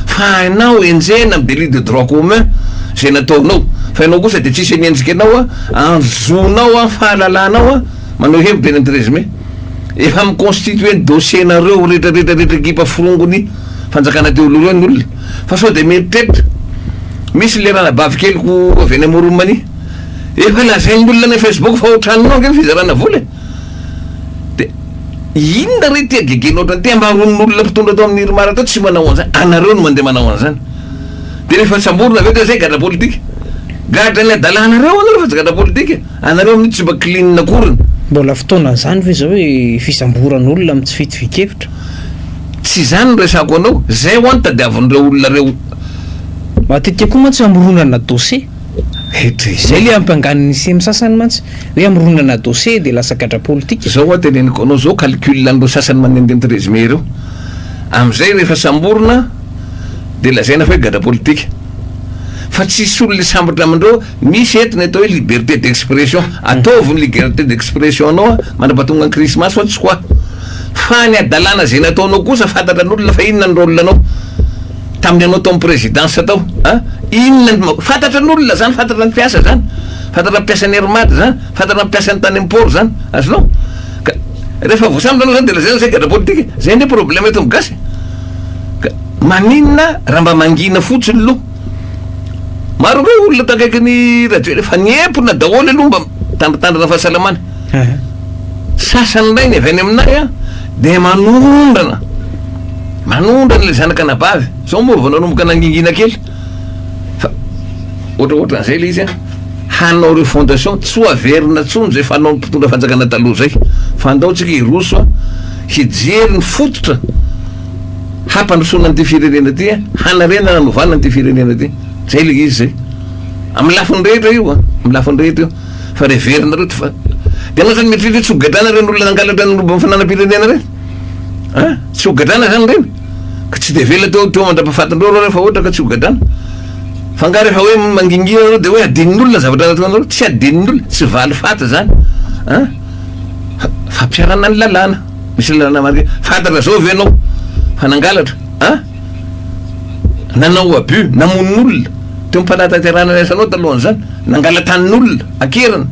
fa hainao enjehina amin'ny délit de droit commun izay nataonao fa ianao kosa dia tsisy mihetsika anao an, andro zonao an, fahalalanao an, manao hevitra eny amin'ny treize mai. Efa mi-constituer ny dossier nareo rehetra rehetra rehetra ekipa forongony fanjakana teo aloha ireo ny olona fa sao dia mieritreritra misy ilay ranabavy keliko avy any Amoron'i Mania efa lazain'ny olona any Facebook fa otranonao ange ny fizarana vola e! de inona re tia gege loatra ty amaron'olona mpitondra ato amin'ny irmar ato tsy manao an'zany anareo no mandeha manao an'zany de rehefa samborina avy eo de zay gadra politika gadra ny adalanareo anareo fa tsy gadra politika anareo mihintsy tsy mba clean akoriny Mbola fotoanan'izany ve izao hoe fisamboran'olona amin'ny tsy fitovian-kevitra? Tsy izany no resako anao, izay ho'a no tadiavin'ireo olona ireo. Matetika koa mantsy hamoronana dossier. Hatrizay. Zay le ampangan ny semi sasany mantsy hoe amoronana dossier de lasa gadra politika. Zao hoa teneniko anao zao calcul an'ireo sasany manendenty résumé ireo. Amzay rehefa samborina de lazaina fa hoe gadra politika. Fa tsisy olona hisambotra amindreo, misy eto ny atao hoe liberté d'expression, ataovy ny ligerté d'expression anao mandrapatonga ny krismasy fa tsy quoi. Fa ny hadalana zay nataonao kosa fantatran'olona fa inona ny rôle anao. tamin'ny anao tao amin'ny présidence tao an, inona ny ma, fantatra ny olona zany, fantatra ny mpiasa zany, fantatra ny mpiasan'ny air mad zany, fantatra ny mpiasan'ny tany amin'ny port zany, azonao? ka rehefa voasambotra anao zany de lazaina zay gadra politika e, zay anie problème eto amin'ny gasy e, ka maninona raha mba mangina fotsiny lo, maro ve olona takaiky ny radio le fa niepona daholo aloha mba mitandritandrina fahasalamana. Sasany indray ny avy any aminay an, dia manondrana, manondrana ilay zanaka anabavy, izao moa vao nanomboka nangingina kely, fa ohatra ohatra an'izay ilay izy an, hanao refondation, tsy ho averina intsony izay fanaon'ny mpitondra fanjakana taloha izay, fa andao tsika hiroso an, hijery ny fototra hampandrosoana an'ity firenena ity an, hanarenana hanovana an'ity firenena ity, izay ilay izy izay, amin'ny lafiny rehetra io an, amin'ny lafiny rehetra io. Fa re very nareo ty fa de anao zany mieritreritra hoe tsy ho gadrana reny olona nangalatra ny lobo am fananam-pirenena reny a! tsy ho gadrana zany reny? ka tsy de avela teo teo mandrapafatinreo reo refa ohatra ka tsy ho gadrana fa nga refa hoe mangingina anareo de hoe adinony olona zavatra nataonareo? tsy adinony olona tsy valifaty zany a! fa fampiharana ny lalàna misy lalàna marina fantatra zao ve anao fa nangalatra a! nanao abus, namono olona, teo am panatanterahana ny asanao talohan'izany, nangala-tanin'olona, an-keriny,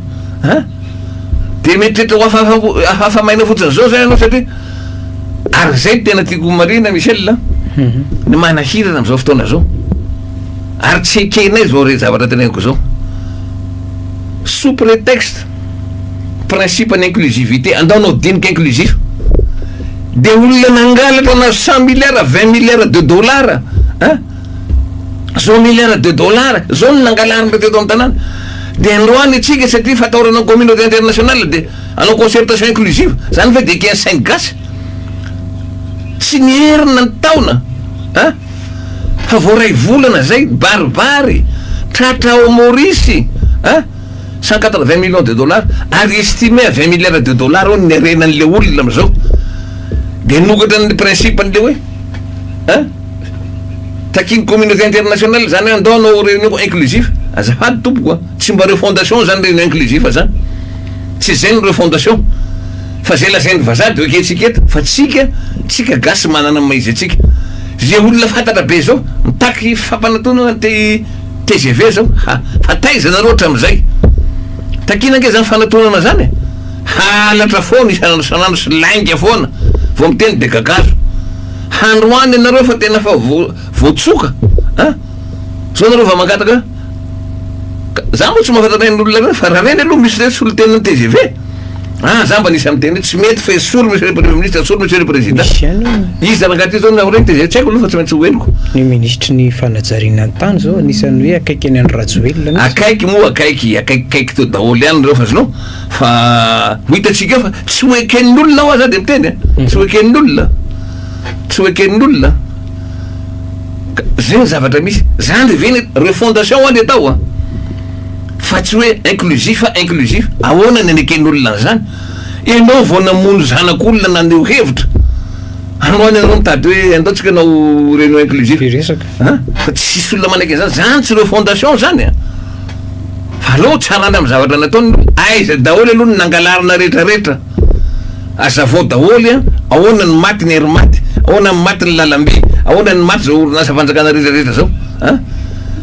an! Dia mieritreritra ho hafahafa hafahafa maina fotsiny izao zay ianao satria ary izay no tena tiako homarihina Michel an! Ny manahirana amin'izao fotoana izao, ary tsy ekenay izao re zavatra teneniko izao, sous prétexte. principe ny inclusivité andao anao dinika inclusif de olona nangalatra anao cent milliards vingt milliards de dollars a zao milliards de dollars zao no nangalarina teto amin'ny tanàna de androany atsika satria fataorana communauté internationale de anao concertation inclusive zany ve de ken saingy gasy tsy ny herina ny taona a fa voaray volana zay baribary tratra ao Maurice a Cent quatre vingt millions de dollars ary estimé à vingt milliards de dollars hono ny harena an'ilay olona amin'izao dia nokatra ny principe an'ilay hoe an takian'ny communauté internationale izany hoe andao hanao réunion inclusif azafady tompoko an tsy mba refondation izany réunion inclusif izany tsy izay ny refondation fa izay lazain'ny vazaha dia ekentsika eto fa tsika tsika gasy manana ny maha izy antsika izay olona fantatra be izao mitaky fampanantonana te Tgv zao ha fa taiza nareo hatramizay? Takina ange zany fanatonana zany e! Halatra foana isan'andro isan'andro sy lainga foana vao miteny de gagazo. Handroany ianareo fa tena fa vo voatsoka a! Zao nareo va mangataka ka za moa tsy mahafantatran'olona reny fa ra reny aloha misy re solontenan'ny tgv. Ah za mba nisy amin'ny teny hoe tsy mety fa esory monsieur le premier ministre, esory monsieur le président. Misy ihany hoe. Izy zany angaha ty zao nahoana izy dia tsy haiko aloha fa tsy maintsy ho henoko. Ny ministry ny fanajariana ny tany zao anisan'ny hoe akaiky any an'i Rajoelina mihitsy. Akaiky moa akaiky, akaikikaiky teo daholo ihany ireo fa zno fa ho hitantsika eo fa tsy ho eken'ny olona ho'a za dia miteny a, tsy ho eken'ny olona, tsy ho eken'ny olona. Ka zay ny zavatra misy. Zany ve ny refondation ho'a ny atao a. Fa tsy hoe inclusif a inclusif. Ahoana ny aneken'olona an'izany? Ianao vao namono zanak'olona naneho hevitra. Anao any ianao mitady hoe andao tsika anao renao inclusif. Be resaka. An? Fa tsy hisy olona manaiky an'izany. Izany tsy ireo fondation izany an. Fa aleo tsarany amin'ny zavatra nataony aloha. Aiza daholo aloha ny nangalarina retraretra? Azavao daholo an. Ahoana ny maty ny air maty? Ahoana ny maty ny lalambe? Ahoana ny maty izao orinasa fanjakana retraretra izao? An?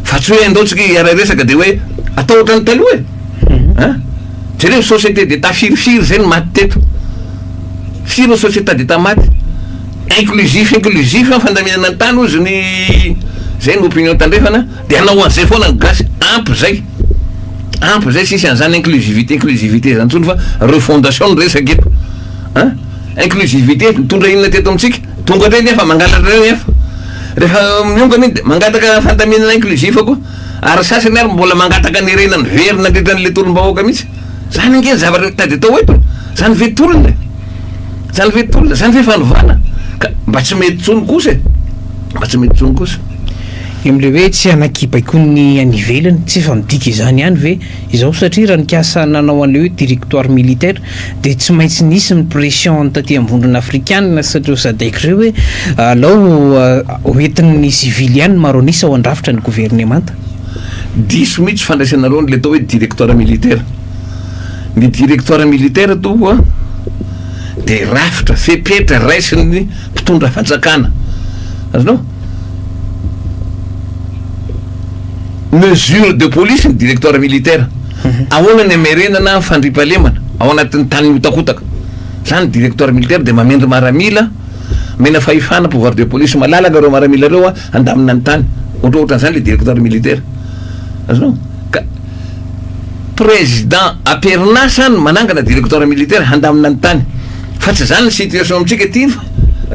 Fa tsy hoe andao tsika hiara resaka de hoe atao ohatran'ny taloha e! Hein? Jereo ny société d'état firy firy zay no maty teto? Firy ny sociétat d'état maty? Inclusif inclusif ny fandaminana ny tany ozy ny zay no opinion tandrefana de hanao an'izay foana ny gasy, ampy zay! Ampy zay tsisy an'izany inclusivité inclusivité zany tsony fa refondation no resaka eto! Hein? Inclusivité nitondra inona teto amintsika? Tonga teny efa mangalatra teny efa rehefa miongana iny dia mangataka fandaminana inclusif koa ary ny sasany ary mbola mangataka ny harena niverina nandritra an'ilay tolom-bahoaka mihitsy. Izany ange ny zavatra tady atao eto. Izany ve tolona e? Izany ve tolona? Izany ve fanovana? Ka mba tsy mety intsony kosa e! Mba tsy mety intsony kosa. Ny amin'ilay hoe tsy hanakibaikoa ny any ivelany, tsy efa midika izany ihany ve izao? Satria raha nikasa nanao an'ilay hoe directoire militaire dia tsy maintsy nisy ny pression taty am-bondrona afrikanina sy ireo sadec ireo hoe alao ho entin'ny sivily ihany ny maro an'isa ao an-drafitra ny governemanta. Diso mihitsy fandraisana aloha an'ilay atao hoe directoire militaire. Ny directoire militaire toa dia rafitra, fepetra raisin'ny mpitondra fanjakana. Azonao? Mesure de police ny directoire militaire. Ahoana ny hamerenana ny fandriampahalemana ao anatin'ny tany mihotakotaka? Izany directoire militaire dia mamindra maramila, omena fahefana, pouvoir de police, malalaka ireo maramila ireo handamina ny tany. Ohatra ohatra an'izany ilay directoire militaire. Azonao? Ka président am-perinasa no manangana directoire militaire handamina ny tany. Fa tsy izany ny situation amintsika aty fa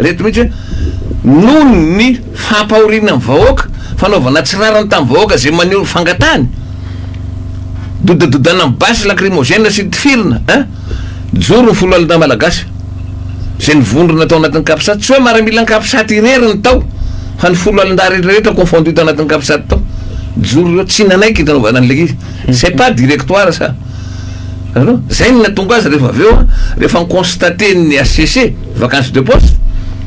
ireto mihitsy hoe noho ny Fampahoriana ny vahoaka, fanaovana tsy rariny tamin'ny vahoaka izay maneho ny fangatahany, dodadodana amin'ny basy lakrimozena sy tifirina eh! Joro ny folo alina malagasy izay nivondrona tao anatin'ny capsat, tsy hoe maramilan'ny capsat irery no tao fa ny folo alin-dahy rehetra rehetra confondu tao anatin'ny capsat tao, joro ireo tsy nanaiky ny nanaovana an'ilay izy, c'est pas directoire ça! Hitanao? Izay no nahatonga azy rehefa avy eo an, rehefa ni-constater ny HCC, vacance de poste,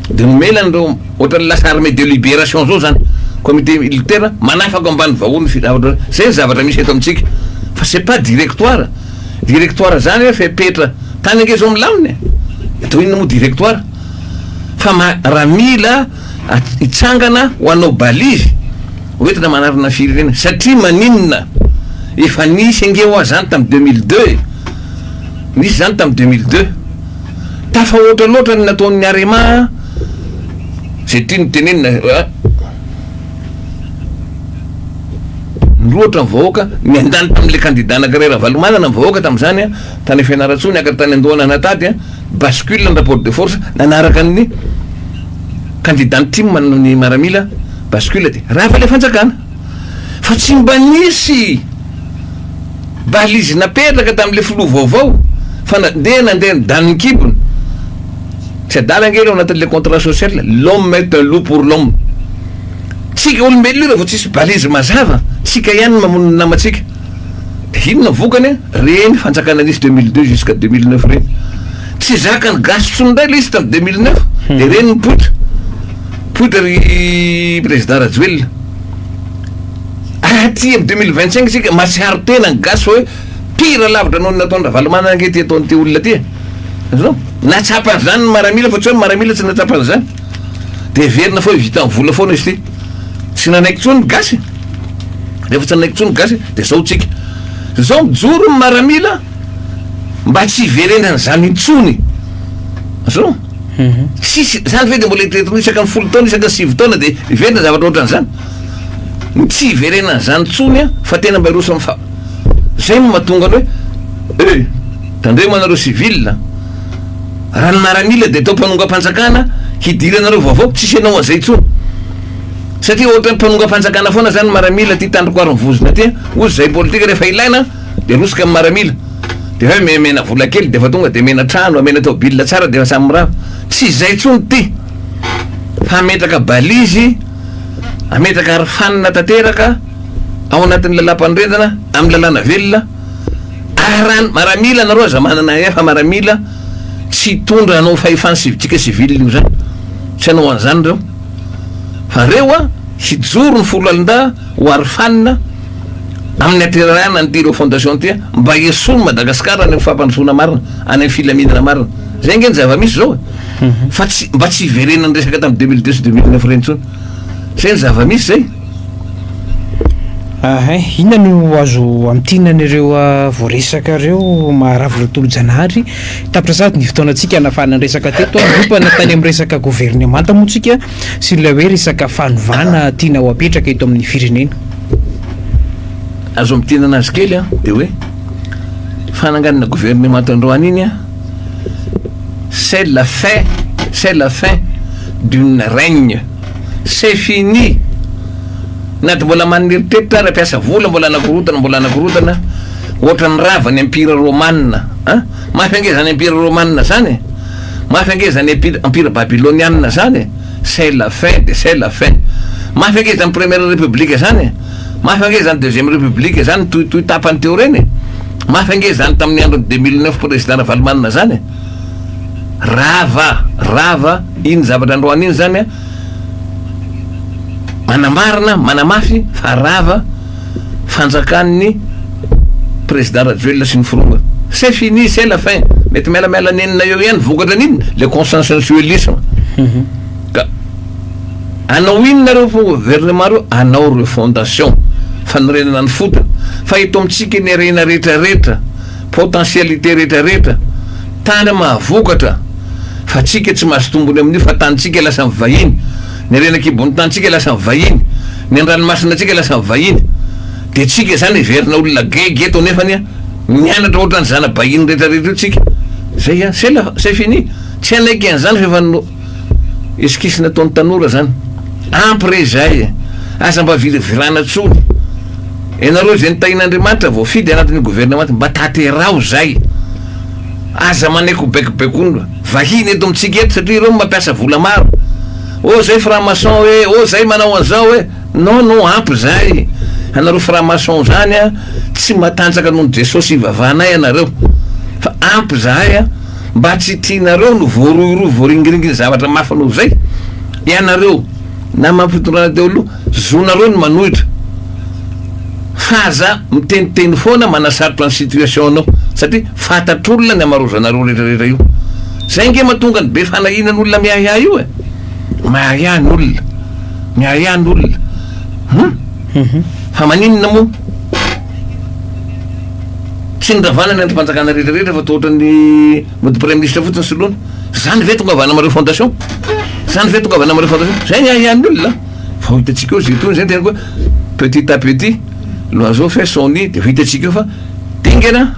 dia nomena an'ireo. Ohatran'ny lasa armée de libération zao zany comité militaire manafaka ambany vahoa ny filahaotra zay ny zavatra misy eto amintsika fa c'est pas directoire directoire zany hoe fepetra tany ange zao milamina e atao inona moa directoire fa ma raha mila hitsangana ho anao balise hoentina manarina firenena satria maninona efa nisy ange hoa zany tam deux mille deux e nisy zany tam deux mille deux Tafahoatra loatra ny nataon'ny Arema a! Izay tiany tenenina a! Nirohotra ny vahoaka, niandany tamin'ilay kandida anankiray Ravalomanana ny vahoaka tamin'izany a! Tany Fianarantsoa niakatra tany Andohanana tady a! Bascule ny rapport de force, nanaraka ny kandida ny tim ny maramila, bascule dia rava ilay fanjakana. fa tsy mba nisy balise napetraka tamin'ilay filoha vaovao fa na dia nandeha ny danin'ny kibony. Tsy adala ange ireo anatin'ilay contrat social, l'homme est un loup pour l'homme. Tsika olombelona io raha vao tsisy balise mazava, tsika ihany no mamono ny namantsika. Dia inona ny vokany an? Ireny fanjakana nisy deux mille deux jusqu'à deux mille neuf ireny. Tsy zakan'ny gasy intsony indray ilay izy tamin'ny deux mille neuf dia ireny nipoitra. Poitra ry Prezida Rajoelina ah, aty am deux mille vingt cinq sika masiharo tena ny gasy fa hoe pire lavitra noho ny nataon'i Ravalomanana ange ty ataon'ity olona ty e natsapa an'izany ny maramila fa tsy hoe ny maramila tsy natsapa an'izany de heverina fa hoe vita amin'ny vola foana izy ty tsy nanaiky intsony ny gasy rehefa tsy nanaiky intsony ny gasy de zao tsika zao mijoro ny maramila mba tsy hiverenan'izany intsony azao Tsisy izany ve dia mbola eritreretinao isaka ny folo taona isaka ny sivy taona dia hiverina zavatra ohatran'izany? Tsy hiverenan'izany intsony an! Fa tena mba hiroso amin'ny fa izay no mahatonga ny hoe eh! Tandremo anareo civil a! Raha ny maramila dia atao mpanongam-panjakana hidiranareo vaovao tsisy ianao an'izay intsony satria ohatra ny mpanongam-panjakana foana izany ny maramila aty tandrokoarin'ny vozona aty an! Hoy izahay politika rehefa ilaina dia arotsaka amin'ny maramila. de hoe me mena vola kely defa tonga de mena trano amena tôbila tsara defa samy mirava tsy zay tsony ty fa ametraka balizy ametraka arofanina tanteraka ao anatin'ny lalam-panorenana amin'ny lalàna velona aran maramila nareo aza manana efa maramila tsy hitondra anao fahefany sivitsika sivily io zany tsy anao an'izany reo fa reo a hijoro ny folo alindahy ho arofanina Amin'ny aterahana an'ity ireo fondation ity an, mba esory Madagascar any amin'ny fampandrosoana marina, any amin'ny filaminana marina. Zay ange ny zava-misy zao e. Fa tsy, mba tsy hiverenan'ny resaka tamin'ny deux mille deux sy deux mille neuf ireny intsony. Zay ny zava-misy zay. Ahay, inona no azo amintina an'ireo voaresaka ireo Maharavo Raotolojanahary? Tapitra sahady ny fotoanantsika hanafahana ny resaka teto an, niompana tany amin'ny resaka governemanta moa tsika. sy ilay hoe resaka fanovana tiana ho apetraka eto amin'ny firenena. Azo ampidirana azy kely an, dia hoe fananganana gouvernemanta androany iny an, c'est la fin, c'est la fin d'une règne, c'est fini, na dia mbola manana eritreritra ary mpiasa vola mbola anakorotana mbola anakorotana ohatran'ny rava ny empire romana an, mafy ange izany empire romana izany e. Mafy ange zany empire empire babylonianina zany e! c'est la fin de c'est la fin! Mafy ange zany première république zany e! Mafy ange zany deuxième république zany toy toy tapany teo reny e! Mafy ange zany tamin'ny andron'i deux mille neuf président Ravalomanana zany e! Rava rava iny zavatra androany iny zany a! Manamarina manamafy fa rava fanjakan'ny Président Rajoelina sy ny Foronina. C'est fini, c'est la fin. Mety mialamiala nenina eo ihany, vokatra an'inona? Le consensualisme. Mhm. Ka anao inona reo gouvernement reo? Anao reo fondation, fanorenana ny fotony. Fa eto amintsika ny harena rehetra rehetra, potentialité rehetra rehetra, tany mahavokatra, fa tsika tsy mahazo tombony amin'io fa tanintsika lasa vahiny. Ny renakibon'tantsika lasa vahiny, ny andranomasinantsika lasa vahiny, dia tsika zany heverina olona gaigy eto nefany an, mianatra ohatran'ny zana-bahiny retraretra io tsika, zay an, c'est la, c'est fini, tsy hanaiky an'zany fa efa no, esquisse nataon'ny tanora zany, ampy re izay e, aza mba viravirana tsony, ianareo izay notahin'Andriamanitra voafidy anatin'io gouvernement mba tateraho zay. Aza manaiky ho baikobaikoin'olona vahiny eto amintsika eto satria ireo no mampiasa vola maro. Oh zay franc maçon eh, oh zay manao an'izao eh. Non non ampy izay. Anareo franc maçon zany an, tsy matanjaka nohon'i Jesosy ivavahanay ianareo. Fa ampy izahay an. Mba tsy tianareo no voarohirohy voaringiringin'ny zavatra mafy noho izay ianareo. Namana fitondrana teo aloha, zonareo ny manohitra fa aza miteniteny foana manasarotra ny situation nao satria fantatr'olona ny hamarozanareo retraretra io. Zay ange matonga ny be fanahinan olona miahiahy io e! Miahiahy ny olona, miahiahy ny olona hum! Fa maninona moa tsy noravana ny andrim-panjakana retraretra fa toa ohatran'ny mody praiministra fotsiny soloina? Zany ve tongavana amareo fondation? Zany ve tongavana amareo fondation? Zay ny ahiahin'ny olona. Fa ho hitantsika eo zay tony zay tena koa petit à petit l'oiseau fait son nid de ho hitantsika eo fa dingana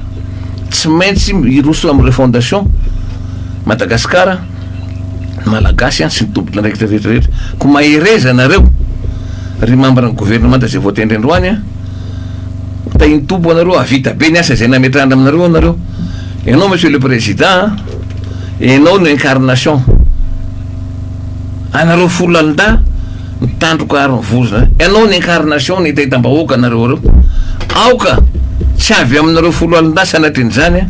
tsy maintsy hiroso amin'ireo fondation Madagascar Malagasy sy ny tompon andraikitra rehetra rehetra. Ko mahereza anareo ry membre ny gouvernemanta zay voatendry androany a. Tahin'ny Tompo anareo ahavita be ny asa zay nametrahany aminareo anareo. Ianao Monsieur le Président a. Enao no incarnation anareo folandahy mitandroka ary mivozona enao ny incarnation ny taitambahoaka anareo reo aoka tsy avy aminareo foloalindahy sanatrin'izany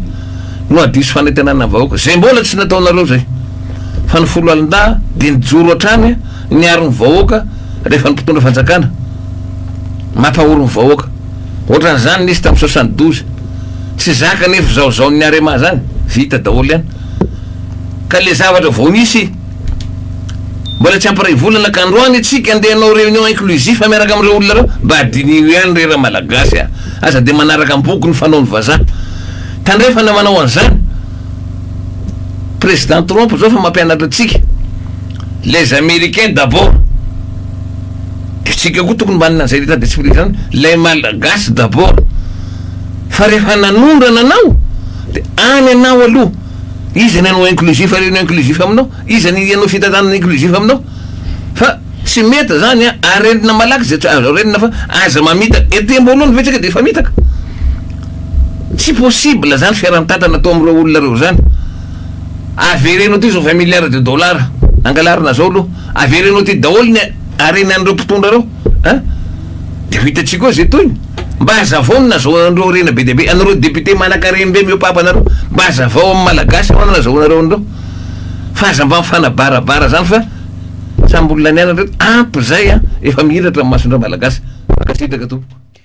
no adiso fanentanana vahoaka zay mbola tsy nataonareo zay fa ny foloalindahy de nijoro hatrany niaro ny vahoaka rehefa ny mpitondra fanjakana mampahory ny vahoaka Ohatran'izany nisy tamin'ny soixante douze. Tsy zaka nefa izao zaon'ny Arema zany, vita daholo ihany. Ka le zavatra vao nisy mbola tsy ampiray volana ka androany tsika andeha hanao réunion inclusif miaraka amin'ireo olona ireo, mba diniho ihany re ra Malagasy a! Aza dia manaraka am-boko ny fanaon'ny vazaha. Tandrefana manao an'izany. Président Trump zao efa mampianatra antsika, les Américains d'abord. Isika koa tokony manana an'izay rehetra desprizy izany, les Malagasy d'abord, fa rehefa nanondrana anao de any anao aloha, iza ny hanao inclusif ary ny inclusif aminao, iza ny hanao fitantanana inclusif aminao, fa tsy mety zany an, arenina malaky izay tsy azo arenina fa aza mamitaka, etembo aloha ny vitsika de efa mitaka, tsy possible zany fiarantatana atao amin'ireo olona ireo zany, avereno aty zao vingt milliards de dollars angalarina zao aloha. Avereno aty daholo ny harenan'ireo mpitondra ireo a! Dia ho hitantsika eo izay tohiny. Mba hazavao ny nazahoana an'ireo harena be dia be, anareo députés manankareny be mihoapapa anareo, mba hazavao amin'ny Malagasy ahoana no nazahoanareo an'ireo. Fa aza mba mifanabarabara izany fa samy olona nianatra ireto. Ampy izay a! Efa mihiratra ny mason'ireo Malagasy. Mankasitraka tompoko.